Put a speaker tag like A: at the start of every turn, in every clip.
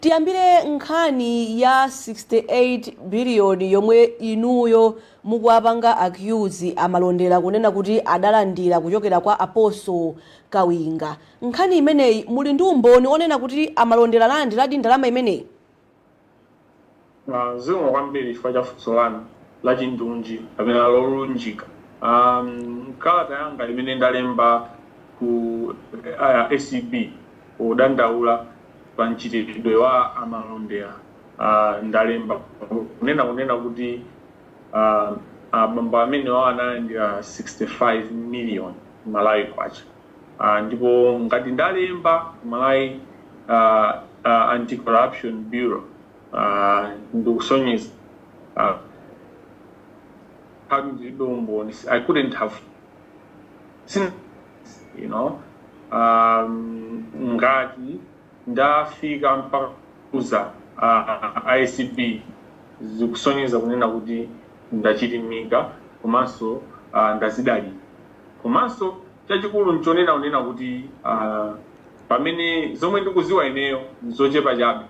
A: Tiyambire nkhani ya 68 billion yomwe inuyo mukuwapanga accuse a Malondera kunena kuti adalandira kuchokera kwa Apostle Kawinga. Nkhani imeneyi muli ndi umboni onena kuti a Malondera analandiradi ndalama imeneyi?
B: Zikomo kwambiri chifukwa cha funso lanu lachindunji kapena lolunjika. M'kalata yanga imene ndalemba ku ACB podandaula pa mchitidwe wa a Malondera, ndalemba kunena kunena kuti abambo amenewa analandira 65 million Malawi kwacha ndipo ngati ndalemba ku Malawi Anti-corruption Bureau, ah, ndikusonyeza ah, how ndilibe umboni i couldn't have seen you know um, ngati ndafika mpaka kuuza uh, ACB zikusonyeza kunena kuti ndachilimika komanso uh, ndazidalira komanso chachikulu nchonena kunena kuti uh, pamene zomwe ndikuziwa ineyo nzochepa chabe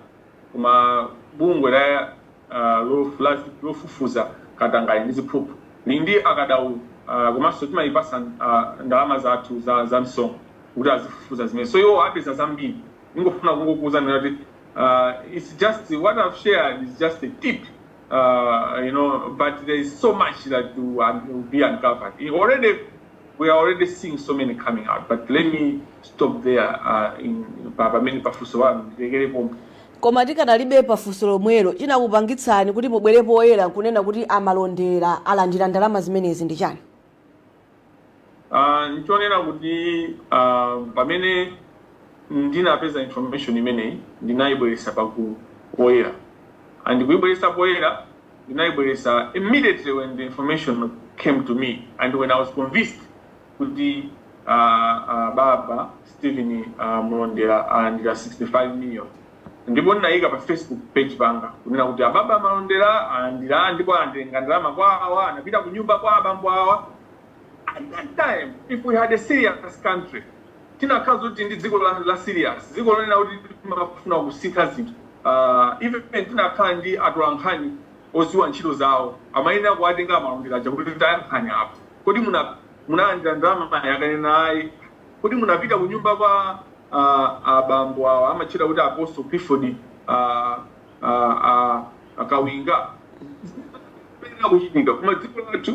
B: Koma bungwe la a lofufuza katangale ndi ziphuphu lili ndi akadaulo komanso timaipatsa ndalama zathu za msonkho kuti azifufuza zimenezi so iwowo apeza zambiri. Ndingofuna kungokuuzani kunena kuti its just what I've shared is just a tip you know but there is so much that will be uncovered. we are already seeing so many coming out but let me stop there uh, in, pa- pamene pafunso lanu ndilekere pomwe koma tikadalibe
A: pafunso lomwelo chinakupangitsani kuti mubwere poyera kunena kuti a Malondera alandira ndalama zimenezi ndi chani
B: Ah, nchonena kuti ah, pamene ndinapeza information imeneyi ndinayibweresa pagulu, poyera and kuyibweresa poyera ndinaibweretsa immediately when the information came to me and when i was convinced kuti uh, uh, baba stephen uh, Malondera alandira 65 million ndipo ndinayika pa facebook page panga kunena kuti ababa malondera alandira ndipo atenga ndalama kwa awa anapita ku nyumba kwa abambo awa at that time if we had a serious country tinakhala zoti tili ndi dziko la, la serious dziko lonena kuti timafuna kusintha zinthu uh, even tinakhala ndi atolankhani oziwa ntchito zawo amayenera kuwatenga a Malondera aja kuti tayankhani apa kodi muna munalandira ndalamayi akanena ayi kodi munapita ku nyumba kwa uh, abambo awa amatchedwa kuti apostle clifford uh, uh, uh, akawinga ku Chitipa koma dziko lathu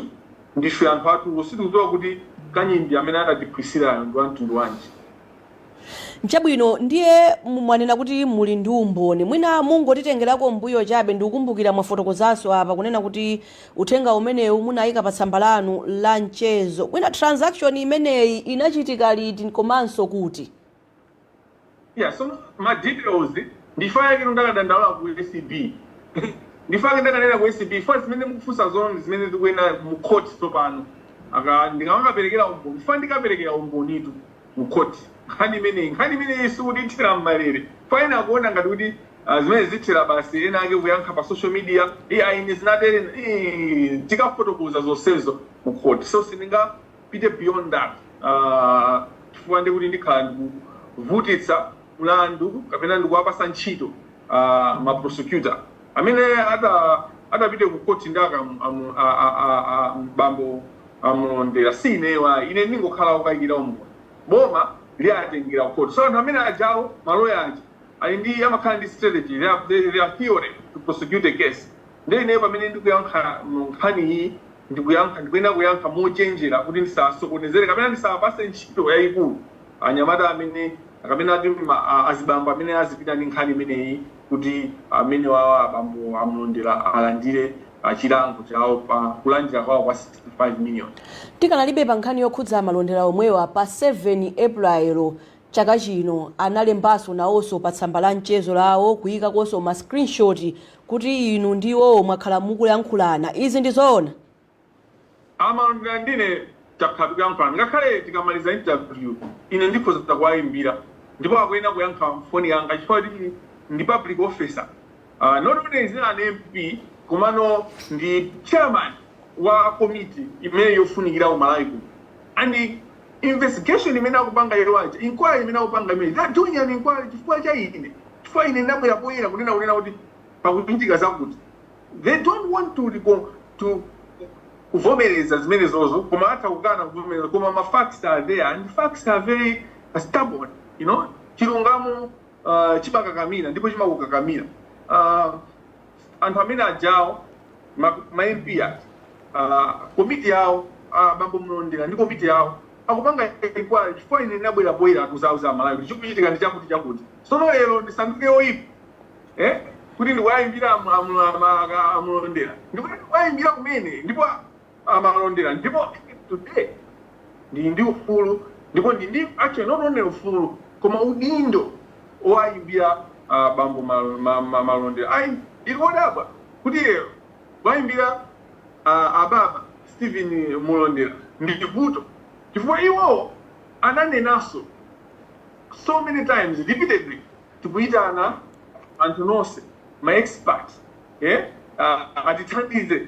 B: Ndife anthu atulo. Sitikudziwa kuti kanyimbi amene anatiphwisirayo ndi wa mtundu wanji.
A: Nchabwino ndiye mwanena kuti muli ndi umboni. Mwina mungotitengerako m'mbuyo chabe ndikukumbukira mwafotokozanso apa kunena kuti uthenga umenewu munayika pa tsamba lanu la mchezo. Mwina transaction imeneyi inachitika liti komanso kuti?
B: Yeah, so ma details ndifa yake ndakadandaula ku ACB ndifa yake ndakanena ku ACB fa zimene mukufunsa zo ndi zimene zikanenedwe mu court tsopano aka ndikamaperekera umboni fa ndikaperekera umbonitu mu court nkhani imeneyi nkhani imeneyi sikuthera mmalere fa ena akuona ngati kuti ah, zimenezi zithera basi wina wake wayankha pa social media iyayi ine zinatere eh, tikafotokoza zonsezo mu court so sindinga pite beyond that uh, chifukwa ndi kuti ndikhala ndikuvutitsa mlandu kapena ndikuwapasa ntchito uh, ma prosecutor amene ata atapite ku court ndi aka amu- a- a- a- a- bambo a Mlondera si ineyo ayi ine ndingokhala okayikira umboni boma liwatengera ku court so anthu amene ajawo maloya aja ali ndi amakhala ndi strategy they have, they, they have a theory to prosecute a case Ndiye ineyo pamene ndikuyankha mu nkhani iyi, ndikuyankha, ndikuyenera kuyankha mochenjera kuti ndisawasokonezere kapena ndisawapatse ntchito yayikulu anyamata amene, kapena ati ma, a, azibambo amene azipita ndi nkhani imeneyi kuti amenewawa abambo a Malondera alandire a, chilango chawo pa kulandira kwawo kwa 65 million. Tikanalibe pa
A: nkhani yokhudza a Malondera omwewa, pa 7 April chaka chino analembanso nawonso pa tsamba la mchezo lawo kuyikakonso ma screenshot kuti inu ndi iwowo mwakhala mukuyankhulana. Izi ndi zoona?
B: A Malondera ndi ine, takhala tikuyankhulana. Ngakhale tikamaliza interview, ine ndikhoza kuwaimbira ndipo akuyenera kuyankha foni yanga chifukwa choti ndi public officer. Uh, not only is he an MP, komano ndi chairman wa komiti imene yofunikira ku Malawi kuno. And investigation imene akupanga iwo aja, inquiry imene akupanga imene, they are doing an inquiry chifukwa cha ine, chifukwa ine ndabwera poyera kunena kunena kuti pakuchitika zakuti. They don't want to recon- to kuvomereza zimenezo koma atha kukana kuvomereza koma ma facts are there and facts are very stubborn you know chilungamo uh, chimakakamira ndipo chimakukakamira uh, Anthu amene ajawo ma, ma MP aja uh, komiti yawo uh, bambo Mlondera ndi komiti yawo akupanga inquiry chifukwa ine ndinabwera poyera kudzauza aMalawi kuti chikuchitika ndi chakuti chakuti sono lero ndisanduke oyipa eh kuti ndikuwayimbira amlondera ndipo ndikuwayimbira kumene ndipo amalondera ndipo today ndili ndi ufulu ndipo ndi ndi actually not only ufulu koma udindo owayimbira uh, bambo mal- ma- ma- malondera ayi ndili odabwa kuti lero wayimbira uh, ababa stephen mulondera ndili kuti chifukwa iwowo ananenanso so many times repeatedly tikuyitana anthu nonse ma expert eh, uh, atithandize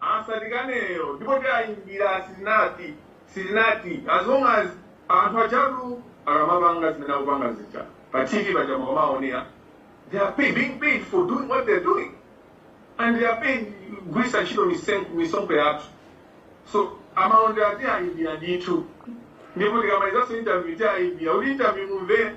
B: asatikaneyo ndipo tiayimbira sitinati sitinati as long as anthu ajatu akamapanga zimene akupanga zija pa tv paja mukamaonera they are paid, being paid for doing what they're doing and they are paid kugwiritsa ntchito misen- misonkho yathu so amalondera tiwayimbira ndithu ndipo tikamalizanso interview tiwayimbira kuti interview mumvere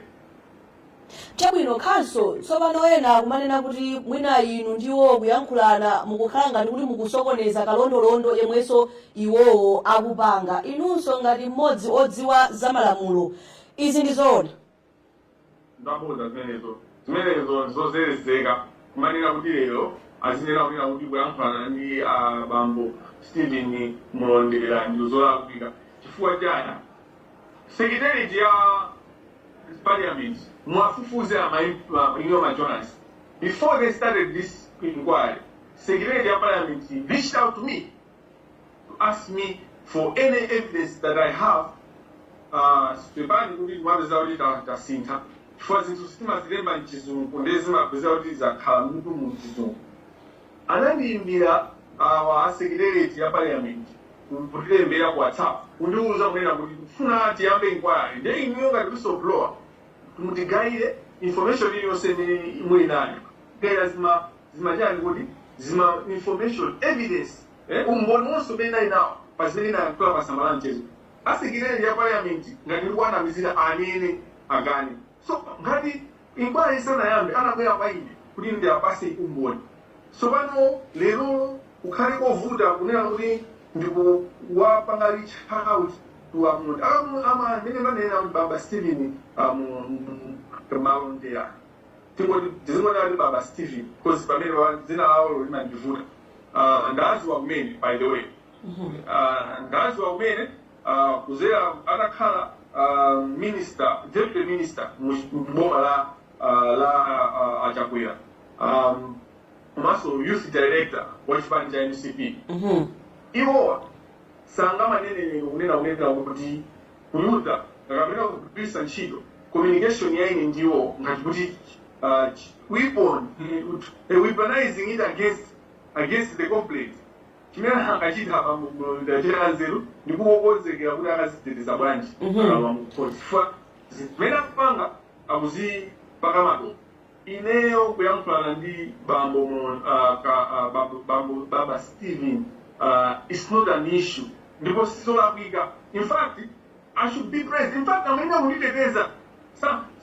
A: Chabwino, khanso. Tsopano, ena akumanena kuti mwina inu ndi iwowo kuyankhulana, mukukhala ngati kuti mukusokoneza kalondolondo yemwenso iwowo akupanga. Inunso, ngati mmodzi odziwa za malamulo, izi ndi
B: zoona? Zabodza zimenezo. Zimenezo ndi zozerezeka. Kumanena kuti lero azinena kunena kuti kuyankhulana ndi a bambo Steven Mulondera ndi zolakwika. Chifukwa chani? Secretariat ya Parliament muwafunse inuyo ma journalist before they started this inquiry secretariat ya Parliament reached out to me to ask me for any evidence that I have uh, pepani kuti ndimapeza kuti ta- tasintha chifukwa zinthu zi timazilemba mchizungu ndiye zimapeza kuti zakhala m'mutu mu mchizungu Anandiimbira awa a secretariat ya parliament ku kutilembera ku whatsapp kundiuza kunena kuti tikufuna tiyambe inquiry nde inuyo ngati whistleblower mutigaire information iliyonse imene muli nayo kaya zima zimachani kuti zima information evidence eh, umboni wonse umene ndili nawo pa zimene ndinayankhula pa tsamba la mchezo a secretariat ya parliament ngati ndikuwanamizira anene akane So ngati inquiry isanayambe anabwera kwa ine kuti ndiapase umboni so pano lero kukhale kovuta kunena kuti ndikuwapanga reach out to a munthu akamu ama amene ndanena kuti baba Steven amu malondera tingoti tizingonena kuti baba Steven because pamene wa- dzina lawo limandivuta uh, ndawadziwa kumene by the way Ah, ndawadziwa kumene ah, kuzera atakhala ah, minister deputy minister mu mu boma la ah, la ah, achakwera um, komanso youth director wa chipani cha mcp Mhm. iwowa sangamanene lero kunena kunena kuti kuyuza kapena kugwiritsa ntchito communication ya ine ndi iwo ngati kuti uh, ch- weapon eh, ut- eh, weaponizing it against against the complaint Chimene angachite abambo ku Blantyre chili chanzeru ndi kungokonzekera kuti akaziteteza bwanji akalowa mu khoti chifukwa zimene akupanga akuzipaka madolo. Ineyo kuyankhulana ndi Baba Steven its not an issue ndipo sizolakwika infact I should be praised infact amayenera kunditeteza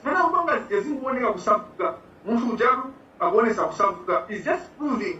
B: zimene akupanga zija zikungowoneka kusauka munthu ujatu akuwonesa kusauka its just proving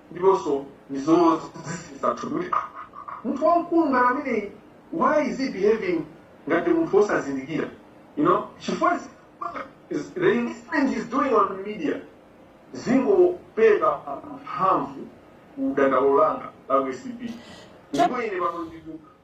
B: ndiponso ndi zoziziritsa thupi kuti "Ah, munthu wamkulu ngati ameneyi why is he behaving ngati munthu wosazindikira you know chifukwa zi- is- the investment he's doing on media zingopereka mphamvu ku dandaulo langa la ku acb ndipo ine pano ndinu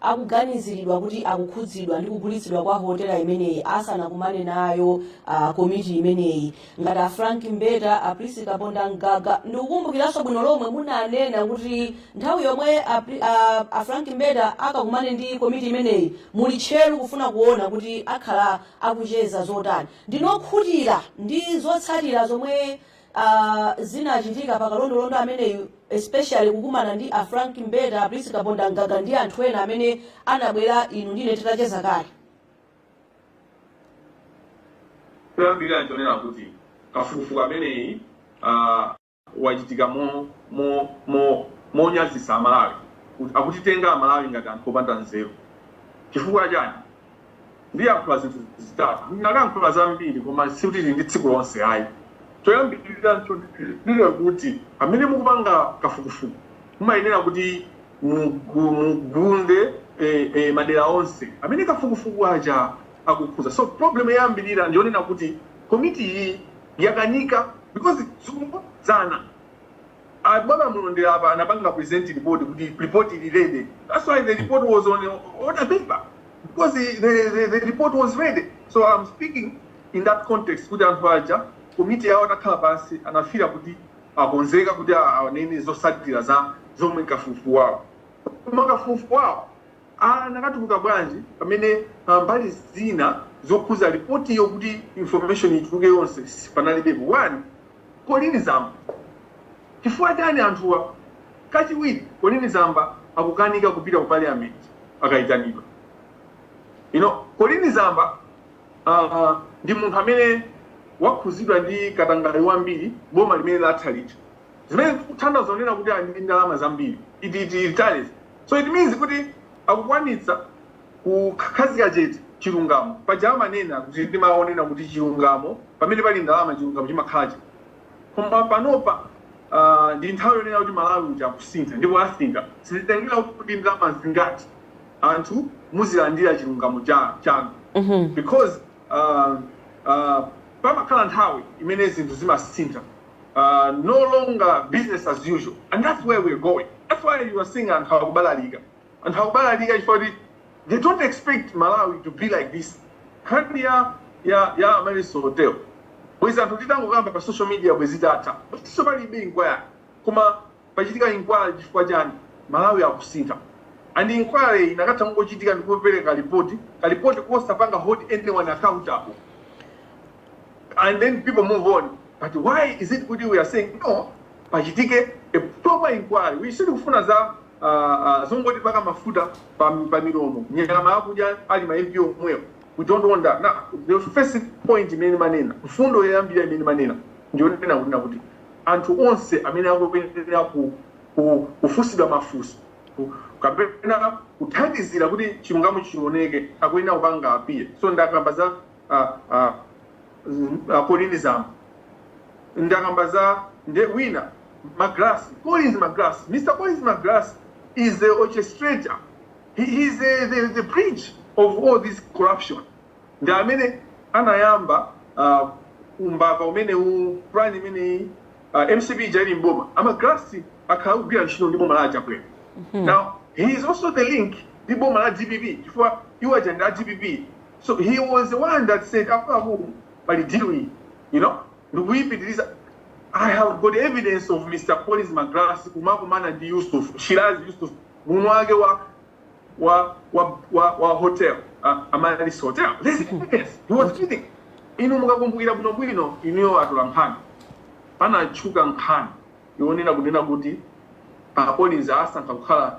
A: akuganiziridwa kuti akukhudzidwa ndi kugulitsidwa kwa hotela imeneyi asanakumane nayo uh, komiti imeneyi ngati a frank mbeta a prince kapondamgaga ndikukumbukiranso bwino lomwe munanena kuti nthawi yomwe a, Pri- a, a frank mbeta akakumane ndi komiti imeneyi muli tcheru kufuna kuona kuti akhala akucheza zotani ndinu okhutira ndi zotsatira zomwe uh, zinachitika pa kalondolondo ameneyu especially kukumana ndi a frank mbeta a prince kapondamgaga ndi anthu ena amene anabwera inu ndine titacheza kale
B: choyambirira nchonena kuti kafukufuku ameneyi uh, wachitika mo- mo- mo- monyazisa amalawi Kuti- akutitenga amalawi ngati anthu opanda nzeru chifukwa chani ndiyankhula zinthu zitatu. Ndinakayankhula zambiri koma sikuti tili ndi tsiku lonse ayi. Choyambirira nchonena kuti pamene mukupanga kafukufuku mumayenera kuti mugunde madera onse amene kafukufuku aja akukhudza. So problem yoyambirira ndiyonena kuti komiti iyi yakanika because tizikumbutsana. A Baba Malondera apa anapanga present report kuti report ili ready that's why the report was on order paper because the, the, the, the report was ready so I'm speaking in that context kuti anthu aja komiti yawo atakhala pansi anafira kuti akonzeka kuti anene zosatira za zomwe kafukufuku wawo koma kafukufuku wawo anakatuluka bwanji pamene ah, mbali zina zokhuza ripotiyo kuti information ituluke yonse panalibepo one Colleen Zamba, Chifukwa chani anthuwa kachiwiri Colleen Zamba akukanika kupita ku parliament akayitanidwa? You know Colleen Zamba uh, ndi munthu amene wakhuzidwa ndi katangale wambiri boma limene latha lija zimene zikuthandauza kunena kuti ali ndi ndalama zambiri it, it, it, so it means kuti akukwanitsa Kukhazika chete chilungamo. Paja amanena kuti ndi mawu onena kuti chilungamo pamene pali ndalama chilungamo chimakhala chete. Koma panopa aah ndi nthawi yonena kuti Malawi uja akusintha ndipo asintha. Sizitengera kuti ndi ndalama zingati anthu muzilandira chilungamo cha chanu because aah aah pamakhala nthawi imene zinthu zimasintha aah no longer business as usual and that's where we are going that's why you are seeing anthu akubalalika. Anthu akubalalika chifukwa choti they don't expect Malawi to be like this. Nkhani ya ya ya Amaryllis Hotel. Bwezi anthu titangokamba pa social media bwezi itatha. Bwezinso palibe inquiry. Koma pachitika inquiry chifukwa chani? Malawi akusintha. And inquiry inakatha kungochitika ndi kupereka report. Ka report kosapanga hold anyone accountable. and then people move on but why is it kuti we are saying no pachitike a proper inquiry sitikufuna za uh, uh, zongotipaka mafuta pa, pa milomo nyama akudya ali ma MP omwewo we don't want that now the first point imene manena mfundo yoyambira imene manena ndiyonena kunena kuti anthu onse amene akuyenera ku, ku, kufunsidwa mafunso ku- kapena kuthandizira kuti chilungamo chioneke akuyenera kupanga appear so ndakamba za a a mm, a Colleen Zamba ndakamba za nde wina Magalasi Collins Magalasi Mr Collins Magalasi is the orchestrator he he is the, the, the bridge of all this corruption ndi amene anayamba uh, umbava umene u plan imene uh, mcp ija ili mboma a Magalasi akhala akugwira ntchito ndi boma la a Chakwera now he is also the link ndi boma la dpp chifukwa iwo aja ndi a dpp So he was the one that said akuluakulu pali deal iyi you know ndikuipitiriza I have got evidence of Mr. Collins Magalasi kumakumana ndi Yusuf Shiraz Yusuf mwini wake wa wa wa wa, wa hotel uh, Amaryllis Hotel this is evidence he was kidding inu mukakumbukira bwino bwino inuyo atolankhani panatchuka nkhani yonena kunena kuti a Collins asankha kukhala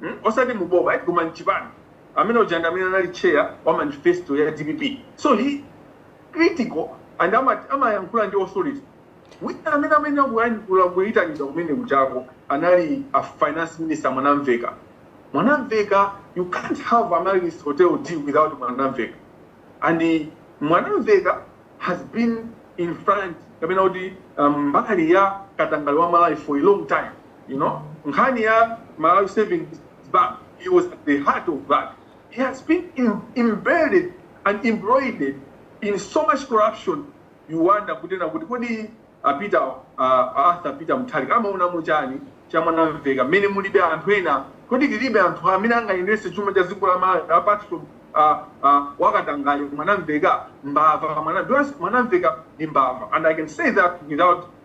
B: mm osati mu boma eti koma mchipani amene uja ndi amene anali chair wa manifesto ya dpp so he critical and amati amayankhula ndi authority wina amene amene akuyenera kuyitanidwa kumene kujako anali a finance minister mwanamvekha mwanamvekha you can't have amaryllis hotel deal without mwanamvekha and eh, mwanamvekha has been in front kapena kuti um, mbali ya katangale wa malawi for a long time you know nkhani ya malawi savings bank he was at the heart of that he has been in, embedded and embroiled in so much corruption you wonder kunena kuti kodi apita uh, arthur peter mutharika amaonamo chani cha Mwanamveka mmene mulibe anthu ena kodi tilibe anthu amene angayendetse chuma cha dziko la malawi apart from uh, uh, wakatangale mwanamveka mbava mwana- do you ask- mwanamveka ndi mbava and i can say that without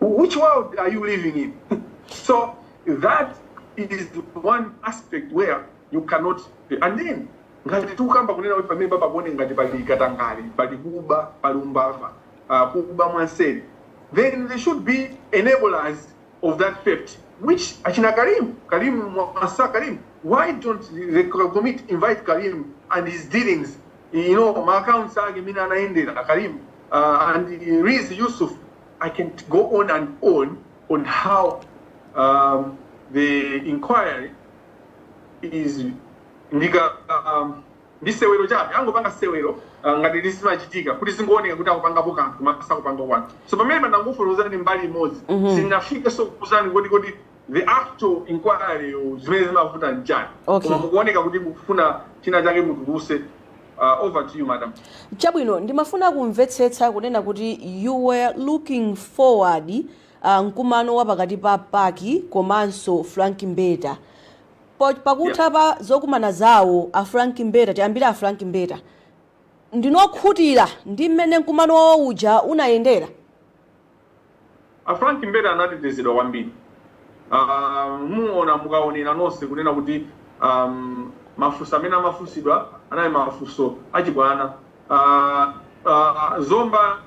B: which world are you living in so that is one aspect where you cannot and then ngati tikukamba kunena kuti pamene pakuoneka ngati pali katangale pali kuba pali umbava uh, kuba mwanseri then there should be enablers of that theft which achina karim karim mwasa karim why don't the committee invite karim and his dealings you know ma accounts ake mmene anayendera karim uh, and Riz Yusuf I can go on and on on how um, the inquiry is ndika um, ndi sewero chabe angopanga sewero uh, ngati zimachitika kuti zingooneka kuti akupangapo kanthu koma sakupangapo kanthu so pamene ndangofotokozani mbali imodzi mm -hmm. sindinafike zokuuzani kodi kodi the actual inquiry you zimene zimavuta nchani Okay. koma mukuoneka kuti mukufuna china chake mutuluse uh, over to you madam chabwino ndimafuna
A: kumvetsetsa kunena kuti you were looking forward uh, mkumano wa pakati pa PAC komanso frank mbeta Po- pakutha pa zokumana zawo a frank mbeta tiyambire a frank mbeta ndinu okhutira ndi mmene mkumano wawo uja unayendera
B: A Frank Mbeta anatetezedwa kwambiri um, muona mukaonera nonse kunena kuti um, mafunso amene amafunsidwa anali mafunso achibwana uh, uh, zomba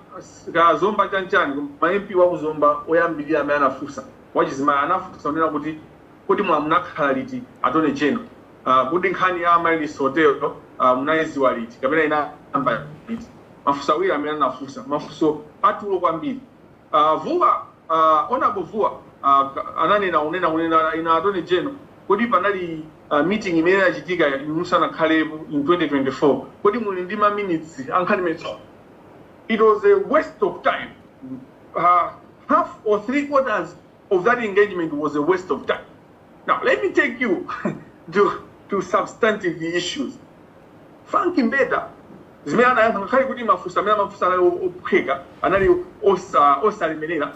B: ka zomba chanchani MP wa ku zomba oyambirira amene anafunsa wachizimayi anafunsa kunena kuti kodi mwa munakhala liti attorney general Uh, kodi nkhani ya Amaryllis Hotel uh, munayiziwa liti kapena inayamba liti? Mafunso awiri amene anafunsa mafunso atulo kwambiri. Uh, Vuwa uh, Honorable Vuwa uh, ka- ananena kunena kunena inu Attorney General, kodi panali uh, meeting imene inachitika inu musanakhalepo in 2024 kodi muli ndi ma minutes a nkhani imeneyo it was a waste of time uh, half or three quarters of that engagement was a waste of time. Now, let me take you to, to substantive issues. Frank Mbeta, zimene anayankha ngakhale kuti mafunso amene amafunsidwa anali o- ophweka anali osa- osalemerera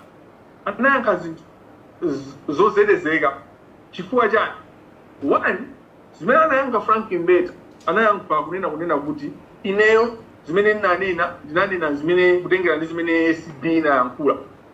B: anayankha zinthu z- zozelezeka chifukwa chani one zimene anayankha frank mbeta anayankha kunena kunena kuti ineyo zimene ndinanena ndinanena zimene kutengera ndi zimene acb inayankhula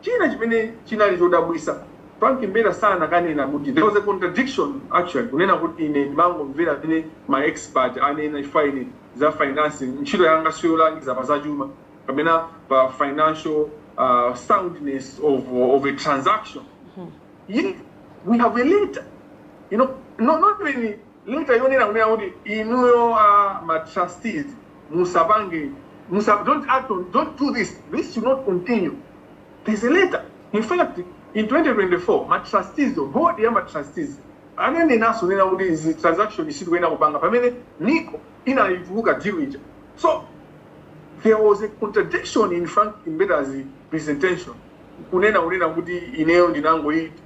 B: China chimene chinali chodabwitsa, Frank Mbeta sanakanena kuti there was a contradiction actually kunena kuti ine ndimangomvera zimene ma expert anena chifukwa ine za financing ntchito yanga siyolangiza pa zachuma kapena pa financial uh, soundness of, of a transaction. Yet we have a letter, you know, not, not even Letter yonena kunena kuti inuyo a ma trustees musapange musa don't act on don't do this this should not continue there's a letter in fact in 2024 ma trustees board ya ma trustees ananenanso kunena kuti iyi transaction sitikuyenera kupanga pamene Nico inatuluka deal ija so there was a contradiction in Frank Mbeta's presentation kunena kunena kuti ineyo ndinangoyi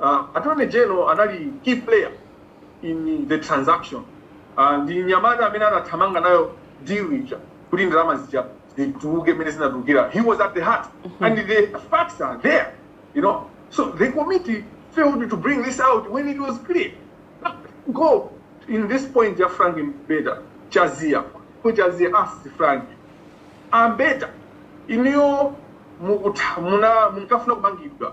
B: Uh, Attorney General anali key player in the transaction. Uh, ndi mnyamata amene anathamanga nayo deal ija kuti ndalama zija zituluke mmene zinatulukira. He was at the heart and the facts are there, you know. So the committee failed to bring this out when it was clear. Going this point ya Frank Mbeta Jazia. Ko Jazia asked Frank, a Mbeta, inuyo mukuta- muna- munkafuna kumangidwa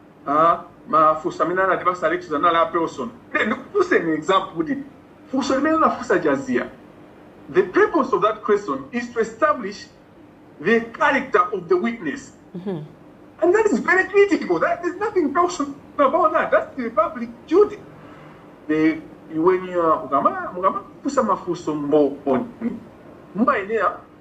B: Ah, mafunso amene anatipatsa Alexious anali a personal. Then ndikufunseni example kuti funso limene anafunsa Jazia. The purpose of that question is to establish the character of the witness. And that is very critical. That there's nothing personal about that. That's the public duty. The when you are mukama mukafunsa mafunso mboni mumayenera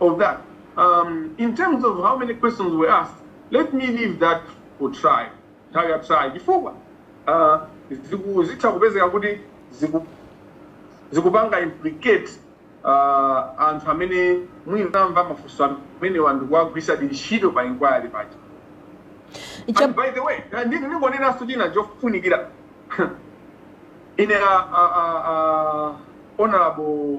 B: of that. Um, in terms of how many questions were asked, let me leave that for trial. Nthawi ya trial chifukwa uh, ziku- zitha kupezeka kuti ziku- zikupanga implicate uh, anthu amene mwina mafunso amenewa ndikuwagwiritsa ntchito pa inquiry paja Cha- And by the way, uh, ndi- ndingonenanso china chofunikira ine uh, uh, uh, uh, honorable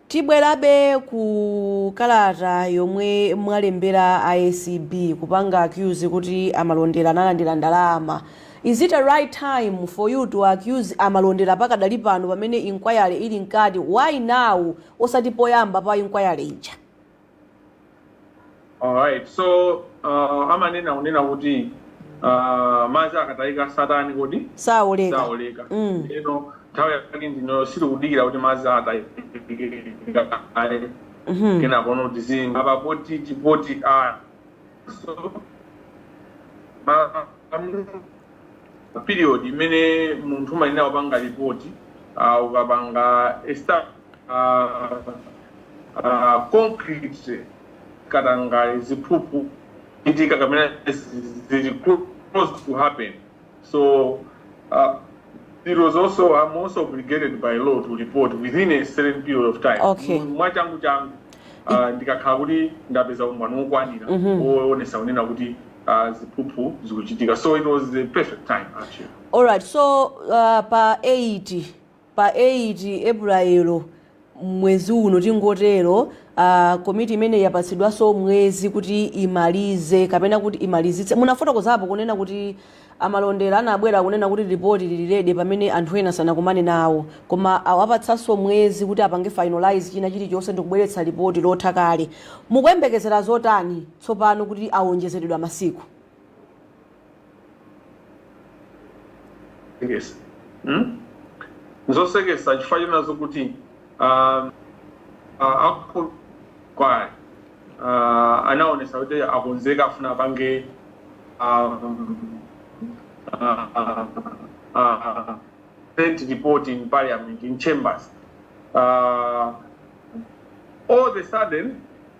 B: Tibwerabe
A: ku kalata yomwe mwalembera a acb kupanga accuse kuti a Malondera analandira ndalama. Is it a right time for you to accuse a Malondera pakadali pano pamene inquiry ili mkati? Why now osati poyamba pa inquiry ija?
B: Alright, so uh, amanena kunena kuti uh, madzi akatayika satani kodi saoleka saoleka
A: Mm.
B: ndiye nthawi yake ndino sitikudikira kuti madzi atayike Mhm. kenakono tizinena apa poti tipoti a period imene munthu umayenera kupanga ripoti uh, ukapanga esta- uh, uh, concrete katangale ziphuphu ichitika kapena zili close to happen So uh, it was also I'm also obligated by law to report within a certain period of time. Okay. Mwachangu changu uh, ndikakhala kuti ndapeza umboni wokwanira woonesa kunena kuti uh, ziphuphu zikuchitika. So it was the perfect time actually. alright so
A: uh, pa 8 Pa 8 April mwezi uno tingotero, komiti imeneyi yapatsidwanso mwezi kuti imalize kapena kuti imalizitse. Munafotokozapo kunena kuti a Malondera anabwera kunena kuti report lili ready pamene anthu ena sanakumane nawo. Koma awapatsanso mwezi kuti apange finalise china chilichonse ndikubweretsa report lotha kale. Mukuyembekezera zotani tsopano kuti awonjezeredwa masiku?
B: Yes. Hmm? zosekesa chifukwa chonazo kuti ah, ah, akulu kwayi ah, anaonesa kuti akonzeka afuna apange ah, ah, ah, ah, sent report in parliament in chambers Ah, all the sudden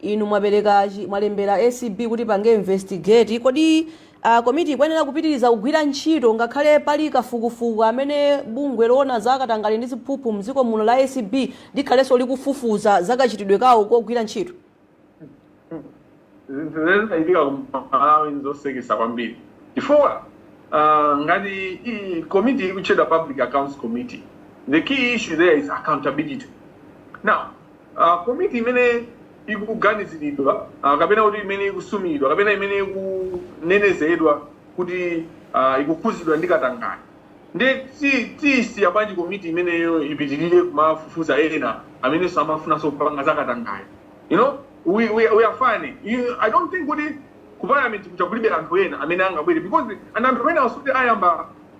A: Inu mwapereka chi, mwalembera acb kuti ipange investigate, kodi komiti ikuyenera kupitiriza kugwira ntchito ngakhale pali kafukufuku amene bungwe loona za katangale ndi ziphuphu mdziko muno la acb likhalenso likufufuza za kachitidwe kawo kogwira ntchito? Zinthu zimene zinachitika
B: ku Malawi n'zosekesa kwambiri chifukwa uh, ngati i- committee ikutchedwa Public Accounts Committee, the key issue there is accountability. Now, Ah, komiti imene ikuganiziridwa ah, kapena kuti imene ikusumidwa kapena imene ikunenezedwa kuti ah, ikukhuzidwa ndi katangale nde tiyisiya bwanji komiti imeneyo ipitirire kumafufuza ena amenenso amafunanso kupanga za katangale you know we, we, we are fine you, i don't think kuti ku parliament kucha kulibe anthu ena amene angabwere because anthu ena asuti ayamba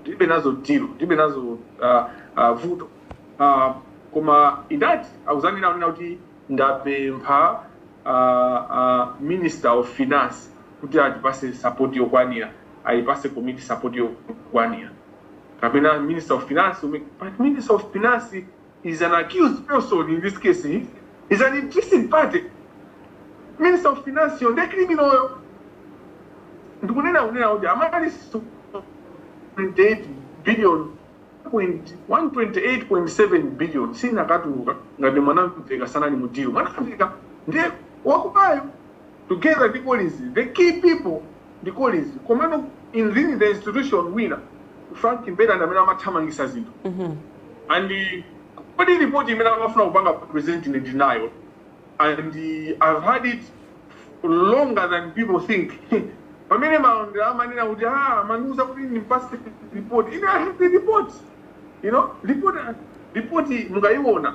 B: ndilibe nazo deal ndilibe nazo uh, uh, vuto uh, koma ndiye ati akuzanena kunena kuti ndapempha uh, uh, minister of finance kuti atipase support yokwanira ayipase committee support yokwanira kapena minister of finance ume- but minister of finance is an accused person in this case eh? is an interested party minister of finance yo nde criminal yo ndikunena kunena kuti amali so- 28 billion point- 128.7 billion sinakatuluka ngati mwanamveka sanali mu deal mwanamveka ndiye wakubayo Together ndi Collins the key people ndi Collins komano within the institution wina Frank Mbeta ndi amene amathamangisa zinthu and kodi report imene amafuna kupanga present ine ndili nayo and I've had it longer than people think pamene malondera amanena kuti ah amandiuza kuti ndimpase report ine I have the report you know report report mukayiona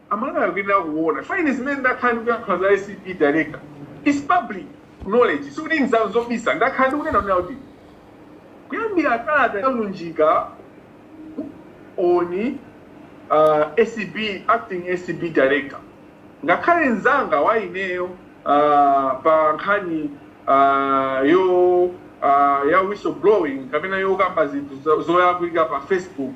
B: Amalawi akuyenera kuona chifukwa ine zimene ndakhala ndikuyankhula za acb director it's public knowledge sikuti nzobisa ndakhala ndikunena kunena kuti kuyambira kalata ya Lunjika on uh, acb acting acb director ngakhale nzanga wa ineyo uh, pa nkhani uh, yo uh, ya whistleblowing kapena yokamba zinthu zo- zolakwika pa facebook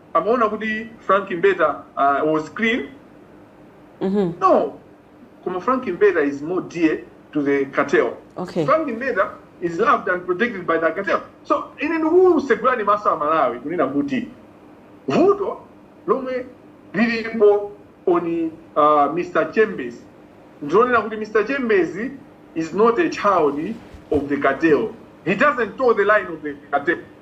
B: amaona kuti frank mbeta uh, was clean Mhm. no koma frank mbeta is more dear to the cartel Okay. frank mbeta is loved and protected by the cartel so ine ndikukutsegulani maso amalawi kunena kuti vuto lomwe lilipo on uh, mr chembezi ndilonena kuti mr chembezi is not a child of the cartel he doesn't toe the line of the cartel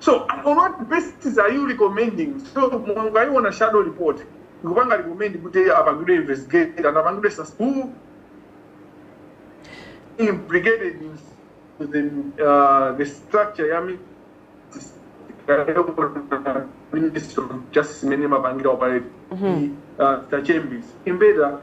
B: so on what basis are you recommending so mungaiona shadow report ikupanga recommend kuti apangidwe investigate and apangidwe sus- who implicated in the, uh, the structure ya mi- Ministry of Justice imene imapangira operate uh, the chambers imbeta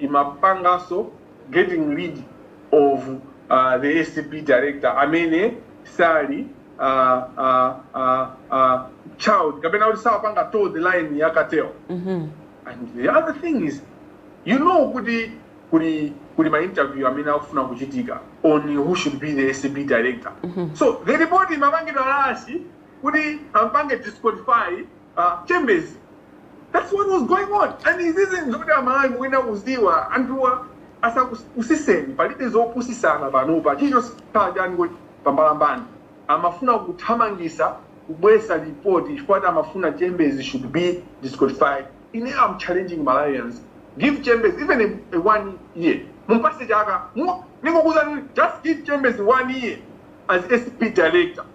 B: imapanganso getting rid of uh, the acb director amene sali uh, uh, uh, uh, child kapena kuti sakupanga toe the line ya cartel and the other thing is you know kuti kuli kuli ma interview amene akufuna kuchitika on who should be the acb director so the report imapangidwa rush kuti ampange disqualify a chembezi that's what was going on and izizi nzoti amalawi mukuyenera kuziwa anthuwa asakupusiseni palibe zopusisana panopa chilichonse chaikidwa pambalambanda amafuna kuthamangisa kubwesa lipoti chifukwa ati amafuna chembezi should be disqualified ine am challenging malawians give chembezi even a, a one year mumpase chaka Mu- ndingokuuzani just give chembezi one year as acb director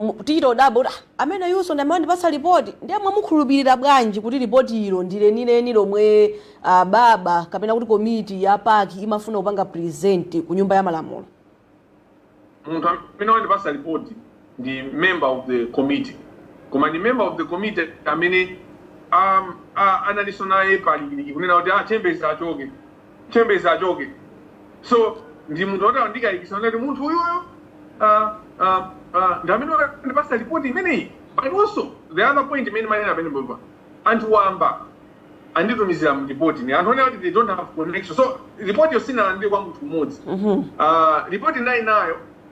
A: mu- tichita kudabwa kuti "Ah, ameneyunso ndi amene andipatsa lipoti ndiye mwamukhulupirira bwanji kuti lipoti ilo ndi lenileni lomwe ah, baba kapena kuti komiti ya pac imafuna kupanga present ku nyumba ya malamulo
B: munthu amene wandipasa report ndi member of the committee koma ndi member of the committee amene um, uh, analinso naye palikiliki kunena kuti achembezi achoke chembezi achoke so ndi munthu oti andikayikisa kuti munthu uyuyo uh, uh, uh, ndi amene andipasa ripoti imeneyi but also the other point imene manena amene mbomba anthu wamba anditumizira ripoti ni anthu onena kuti they don't have connection so ripotiyo sinalandire kwa munthu mmodzi uh, ripoti ndinali nayo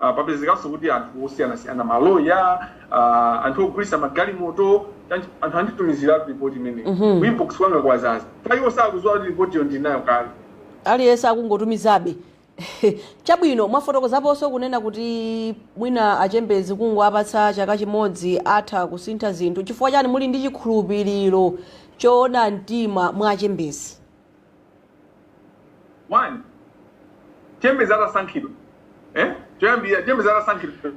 B: a Papezekanso kuti anthu osiyanasiyana, maloya, a anthu ogulitsa magalimoto, chani, anthu anditumiziratu report imeneyi. Ku inbox kwanga kwazaza. Chifukwa iwo sakudziwa kuti reportiyo ndili nayo kale. Aliyense
A: akungotumizabe. Chabwino, mwafotokozaponso kunena kuti mwina a Chembezi kungowapatsa chaka chimodzi atha kusintha zinthu. Chifukwa chani muli ndi chikhulupiriro choona mtima mwa a Chembezi?
B: one chembezi atasankhidwa eh? choyambirira chembezi atasankhidwa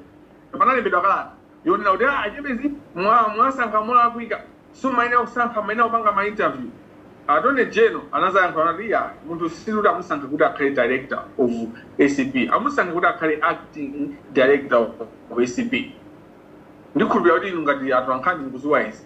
B: panalembedwa kalata yonena kuti a Chembezi mwa- mwasankha molakwika simumayenera kusankha mumayenera kupanga ma interview Attorney General anazayankha anati ya munthu sili kuti amusankhe kuti akhale director of ACB amusankhe kuti akhale acting director of ACB ndikhulupirira kuti inu ngati anthu ankhani mukuziwa izi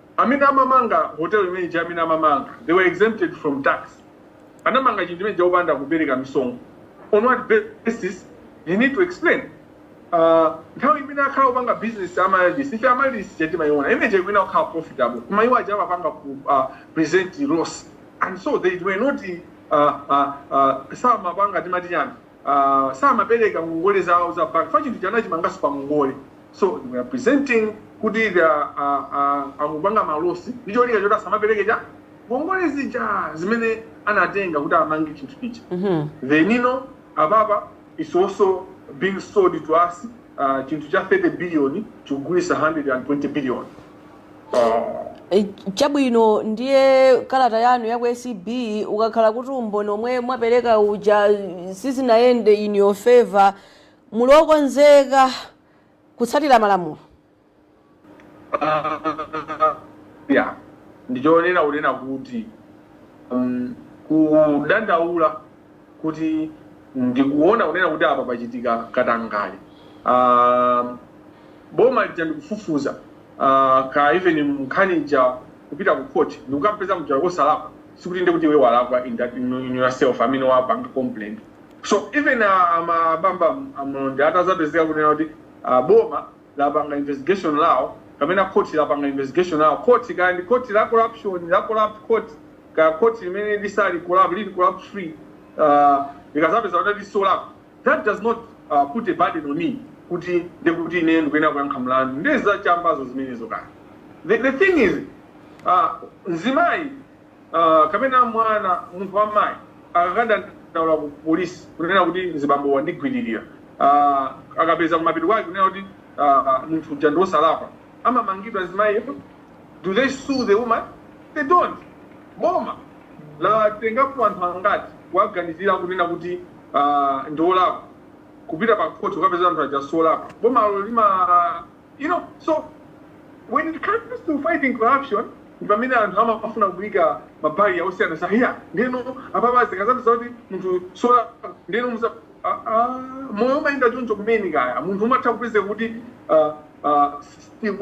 B: Amene amamanga hotel imene ija amene amamanga they were exempted from tax anamanga chinthu chimene chija opanda kupereka misonkho on what basis you need to explain uh, nthawi imene akhala akupanga business Amaryllis ife Amaryllis ija timaiona imene ija ikuyenera kukhala profitable koma iwo aja amapanga ku uh, present loss and so they were not uh, uh, uh, samapanga timati chani uh, samapereka ngongole zawo za bank ifa chinthu chija anachimanganso pa ngongole so they were presenting kuti uh, uh, akupanga uh, malosi ndi cholinga choti asamapereke cha ngongole zija zimene anatenga kuti amange chinthu chija mm -hmm. then you know apapa is also being sold to us uh, chinthu cha 30 billion chikugulitsidwa 120 billion
A: Eh, chabwino ndiye kalata yanu ya ku ACB ukakhala kuti umboni omwe mwapereka uja sizinayende in your favor muli okonzeka kutsatira
B: malamulo ya ndinkanena kunena kuti um, kudandaula kuti ndikuona kunena kuti apa pachitika katangale uh, boma lija ndikufufuza uh, ka even nkhani ija kupita ku court ndikukampeza uja wosalakwa sikuti ndi kuti iwe walakwa in that- in- in yourself amene wapanga complaint so even uh, Mahbubani Shiv atazapezeka kunena kuti uh, boma lapanga investigation lawo, kapena khoti lapanga investigation lawo, khoti, kaya ndi khoti la corruption, la corrupt court, kaya khoti limene lisali corrupt, lili corrupt free, uh, likazapeza kuti lili solakwa, that does not uh, put a burden on me kuti ndi kuti ine ndikuyenera kuyankha mlandu. Nde zachambazo zimenezo kaya. The, the thing is, uh, mzimayi uh, kapena mwana munthu wa mayi akakadandaula ku polisi kunena kuti mzibamboyu wandigwiririra uh, akapeza kumapeto kwake kunena kuti uh, munthu uja ndi wosalakwa amamangidwa mzimayiyo do they sue the woman they don't boma latengapo anthu angati kuwaganizira kunena kuti uh, ndi olakwa kupita pa khoti ukapeza anthu aja si olakwa bomalo lima You know, so when it comes to fighting corruption, ndi pamene anthu amafuna kuika mabali osiyanasiyana ndiyeno apapa zikuonetsa zoti munthu sola ndiyeno musa ah, ah, moyo umayenda choncho komano kaya munthu umatha kupeza kuti ah, ah, system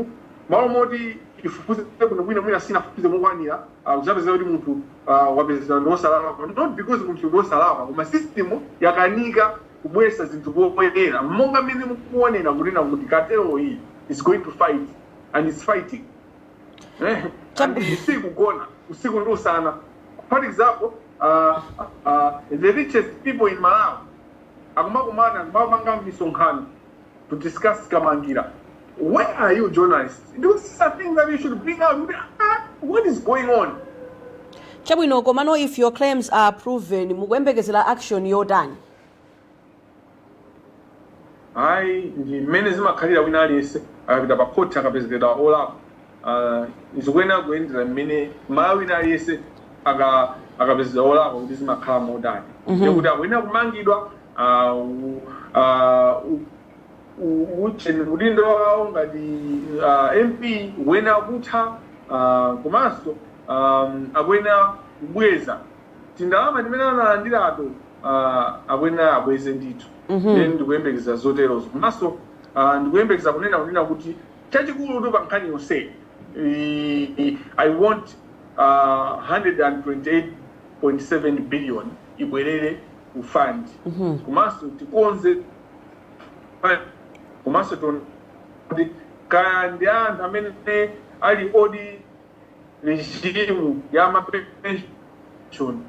B: malo moti ifufuze kuno bwino mwina sinafufuze mokwanira ah, uzapeza kuti munthu ah, wapezeka ndi wosalakwa not because munthu ndi wosalakwa koma system yakanika kubweretsa zinthu poyera monga mmene mukuonera kunena kuti cartel iyi is going to fight and is fighting eh, and iyi sikugona usiku ndi usana for example uh, uh, the richest people in malawi akumakumana akumapanga misonkhano to discuss Kamangila where are you journalists because those are things that you should bring out kuti ah, what is going on chabwino
A: komano if your claims are proven mukuyembekezera action
B: yotani ayi ndi mmene zimakhalira wina aliyense akapita pa khoti akapezeka olakwa zikuyenera kuyendera mmene Mmalawi wina aliyense akapezedwa wolakwa kuti zimakhala motani, ndiye kuti akuyenera kumangidwa. Udindo wawo ngati MP ukuyenera kutha komanso akuyenera kubweza tindalama timene analandirato, akuyenera abweze ndithu. Ine ndikuyembekeza zoterozo komanso ndikuyembekeza kunena kunena kuti. Chachikulu pa nkhani yonseyi i i want uh, 128.7 billion ibwerere ku fund komanso tikonze pa- komanso tione kuti kaya ndi anthu amene ali old regime ya mapension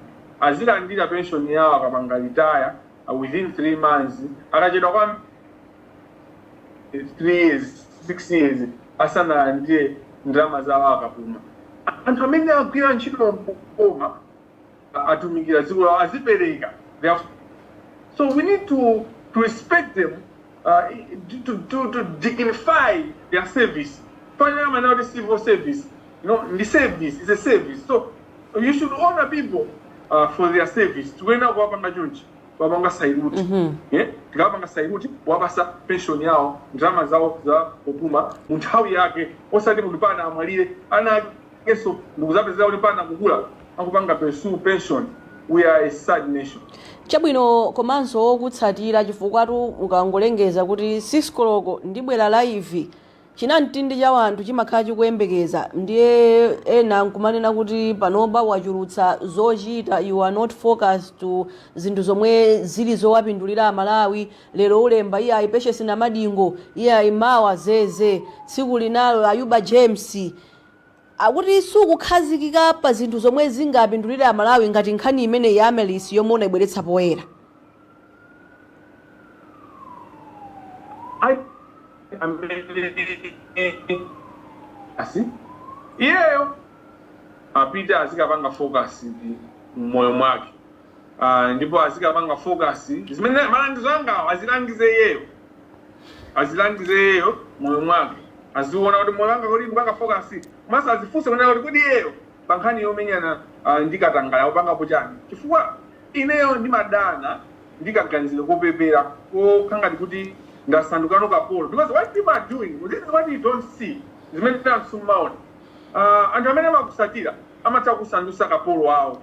B: azilandira pension yawo akapanga retire uh, within three months akachedwa kwambiri 3 years 6 years asanalandire ndalama zawo akapuma anthu amene agwira ntchito m'boma atumikira dziko lawo azipereka so we need to, to respect them uh, to, to, to dignify their service finally now the civil service the service is a service so you should honor people uh, for their service tikuyenera kuwapanga chonchi kuwapanga sailuti mm -hmm. yeah? tikawapanga sailuti kuwapatsa pension yawo ndalama zawo zopuma mu nthawi yake osati mpakana amwalire ana akenso ndikuzapezeka kuti mpakana kukula akupanga pursue pension we are a sad nation
A: chabwino komanso okutsatira chifukwatu ukangolengeza kuti six koloko ndibwera live Chinamtindi cha wanthu chimakhala chikuyembekeza ndiye ena nkumanena kuti panopa wachulutsa zochita you are not focused to zinthu zomwe zili zowapindulira amalawi, lero ulemba iyayi Patience Namadingo, iyayi mawa zeze, tsiku linalo Ayuba James. akuti sukukhazikika pa zinthu zomwe zingapindulire Amalawi ngati nkhani imeneyi ya Melis yomwe unaibweretsa poyera.
B: Iyeyo apite azikapanga focus mmoyo mwake. Aaa ndipo azikapanga focus zimene malangizo angawo azilangize iyeyo azilangize iyeyo moyo mwake aziona kuti moyo wanga kodi ndikupanga focus komanso azifunse kunena kuti kodi iyeyo pa nkhani yomenyana ah, ndi katangale akupangapo chani chifukwa ineyo ndimadana ndi kaganizidwe kopepera kokhala ngati kuti ndasandukano kapolo because what people are doing this is what you don't see zimene anthu simmaona Ah, anthu amene amakutsatira amatha kukusandutsa kapolo wawo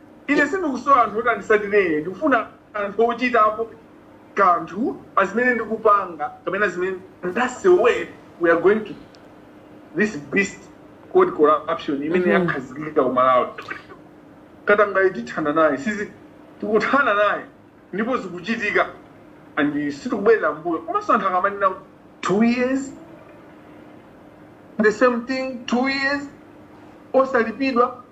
B: Ine sindikusowa anthu oti anditsatire ine, ndikufuna anthu ochitapo kanthu pa zimene tikupanga kapena zimene. That's the way we are going to this beast called corruption imene Mhm. yakhazikika ku Malawi. Katangale tithana naye, sizi tikuthana naye ndipo zikuchitika and sitikubwerera mbuyo. Komanso anthu akamanena two years the same thing two years osalipidwa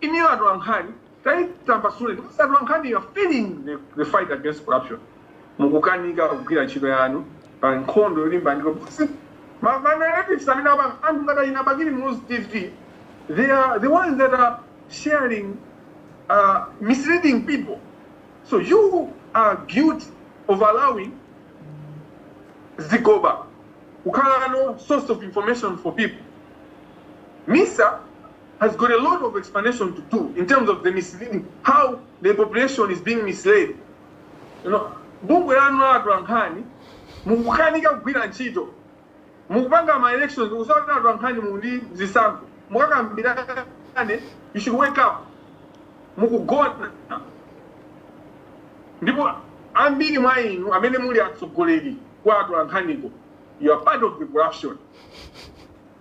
B: Inuyo atolankhani taitambasule ndipo ngati atolankhani you are failing the, the fight against corruption mukukanika kugwira ntchito yanu pa nkhondo yolimbana ndi corruption. Ma ma narratives amene apa anthu ngati ina Bakili Muluzi TV they are the ones that are sharing uh, misleading people so you are guilty of allowing zigoba kukhalano source of information for people MISA has got a lot of explanation to do in terms of the misleading, how the population is being misled. You know, bungwe lanu la atolankhani mukukanika kugwira ntchito mukupanga ma elections osati atolankhani muli ndi zisankho mukakambirane you should wake up mukugona ndipo ambiri mwa inu amene muli atsogoleri a atolankhaniwo you are part of the corruption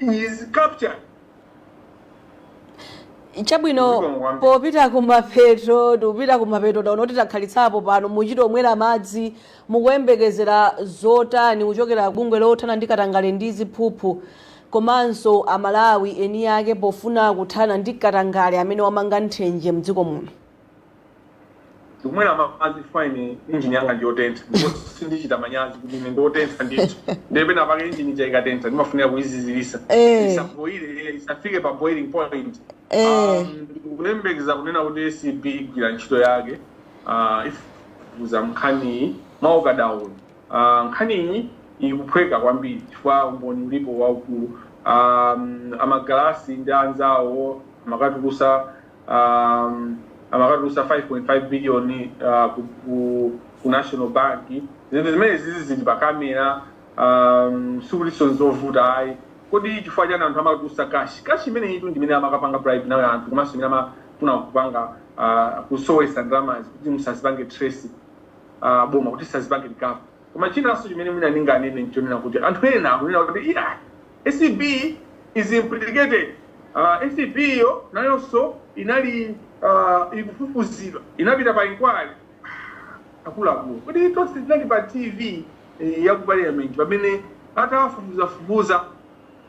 A: is captured. chabwino Zikomo kwambiri. popita kumapeto tikupita kumapeto taona kuti takhalitsapo pano muchitomwera madzi mukuyembekezera zotani kuchokera bungwe lothana ndi katangale ndi ziphuphu komanso amalawi eni ake pofuna kuthana ndi katangale amene wamanga nthenje mdziko muno
B: ndikumwera madzi chifukwa ine injini yanga ndiyotentha ndipo sindichita manyazi kuti ine ndiyotentha ndithu ndiye pena pake injini ija ikatentha ndimafunika kuyizizirisa Eh. isaboile isafike pa boiling point Eh. Um, ndikulemekeza kunena kuti acb igwira ntchito yake ah, ifufuza nkhaniyi mwaukadaulo Ah, nkhaniyi ikuphweka kwambiri chifukwa umboni ulipo waukulu Um, amagalasi ndi anzawo amakatulutsa um, amakatulutsa 5.5 billion uh, ku, ku, ku national bank zinthu zimenezizi zili pa kamera um, sikutinso nzovuta ayi kodi chifukwa chani anthu amakatulutsa kashi kashi imeneyitu ndimene amakapanga bribe nayo anthu komanso imene amafuna kupanga uh, kusowesa ndalamazi kuti musazipange trace uh, boma kuti sazipange recover Koma chinanso chimene mwina ndinganene n'chonena kuti anthu ena akunena kuti, Iyayi, acb is implicated. Acb iyo nayonso inali, aah, ikufufuzidwa, inapita pa inquiry. Aah, akuluakulu, kuti tonse tinali pa TV ya ku Parliament pamene atawafufuzafufuza?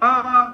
B: Aah.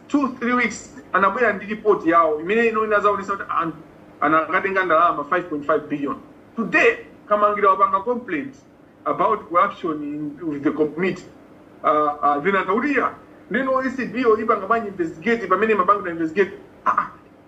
B: 2 3 weeks anabwera ndi report yawo imene iyo inadzaonetsa kuti anthu anakatenga ndalama 5.5 billion today kamangila wapanga complaint about corruption in, with the committee uh, uh, vinanka kuti ya ndiyeno acb yo ipanga bwanji investigate pamene imapangidwa investigate ah, ah,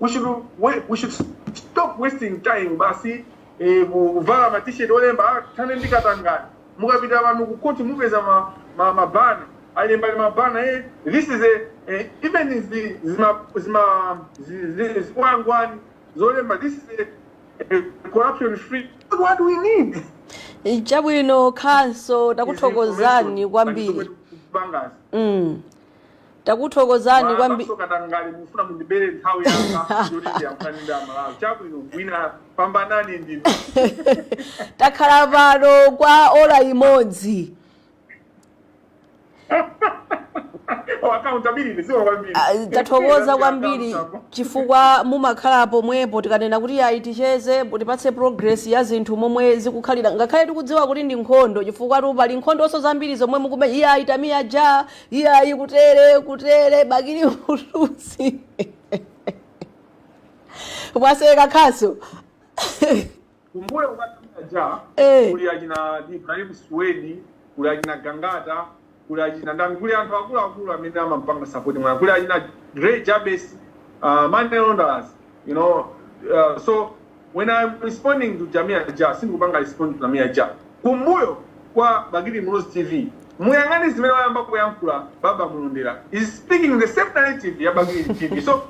B: we should, we, we should stop wasting time basi eh, kuvala ma t-shirt olemba ah, thanani ndi katangale mukapita pano ku court mupeza ma, ma, mabana alemba pali mabana eh, this is a eh, even zi- zima zima zi- zi- zikwangwani zolemba this is a, a corruption free what we need chabwino
A: khaso takuthokozani kwambiri bangazi mm. takuthokozani kwambi mwamaso katangale
B: mufuna mundibere nthawi yanga yoti ndiyankhulane ndi amalawi chabwino wina pambanani
A: ndinu takhala pano kwa ola imodzi Oh, accountability sio kwambiri Ah, tathokoza kwambiri chifukwa mumakhala pomwepo tikanena kuti ayi ticheze tipatse progress ya zinthu momwe zikukhalira ngakhale tikudziwa kuti ndi nkhondo chifukwa tu pali nkhondonso zambiri zomwe mukume iye akatamiya ja iyayi kutere kutere bakili muluzi mwaseka khaso
B: kumbuyo kwa tamiya ja Eh. kuli achina ibrahim swedi kuli achina gangata kuli achina ndani kuli anthu akuluakulu amene amampanga sapoti mwana kuli achina grey jabes uh, money launderers you know uh, so when i'm responding to jamia ja sindikupanga respond to jamia ja kumbuyo kwa bakili muluzi tv muyang'ane zimene wayamba kuyankhula baba mulondera is speaking the same narrative ya bakili tv so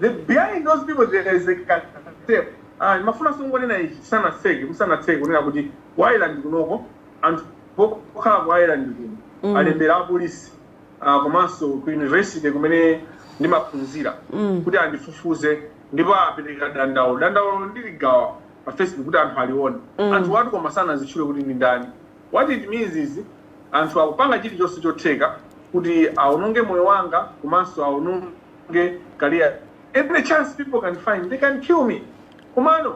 B: the behind those people there is a cartel ah mafuna sungonena ichi sana sege musana tsege kunena kuti ku ireland kunoko anthu okhala ku ireland kuno alembera apolisi ah, komanso ku university kumene ndimaphunzira kuti andifufuze ndipo apereka dandaulo dandaulo ndiligawa pa facebook kuti anthu alione anthu wa ti koma sanazitchule kuti ndi ndani what it means is anthu akupanga chilichonse chotheka kuti aononge moyo wanga komanso aononge career every chance people can find they can kill me komano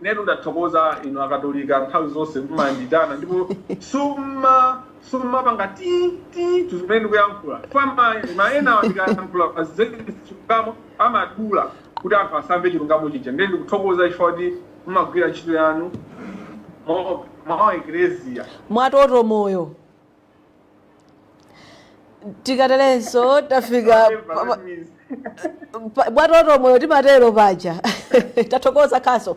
B: inetu ndathokoza inu akatolika nthawi zonse mumanditana ndipo summa summapanga ti ti tuzimene ndikuyankhula chifukwa ma- mayenawa ndikayankhula pa za chilungamo amadula kuti anthu asamve chilungamo chija ndiye ndikuthokoza chifukwa kuti mumagwira ntchito yanu mwa- mwa ekleziya mwatoto moyo
A: tikaterenso tafika pa- pa- pa- mwatoto moyo timatero paja tathokoza khaso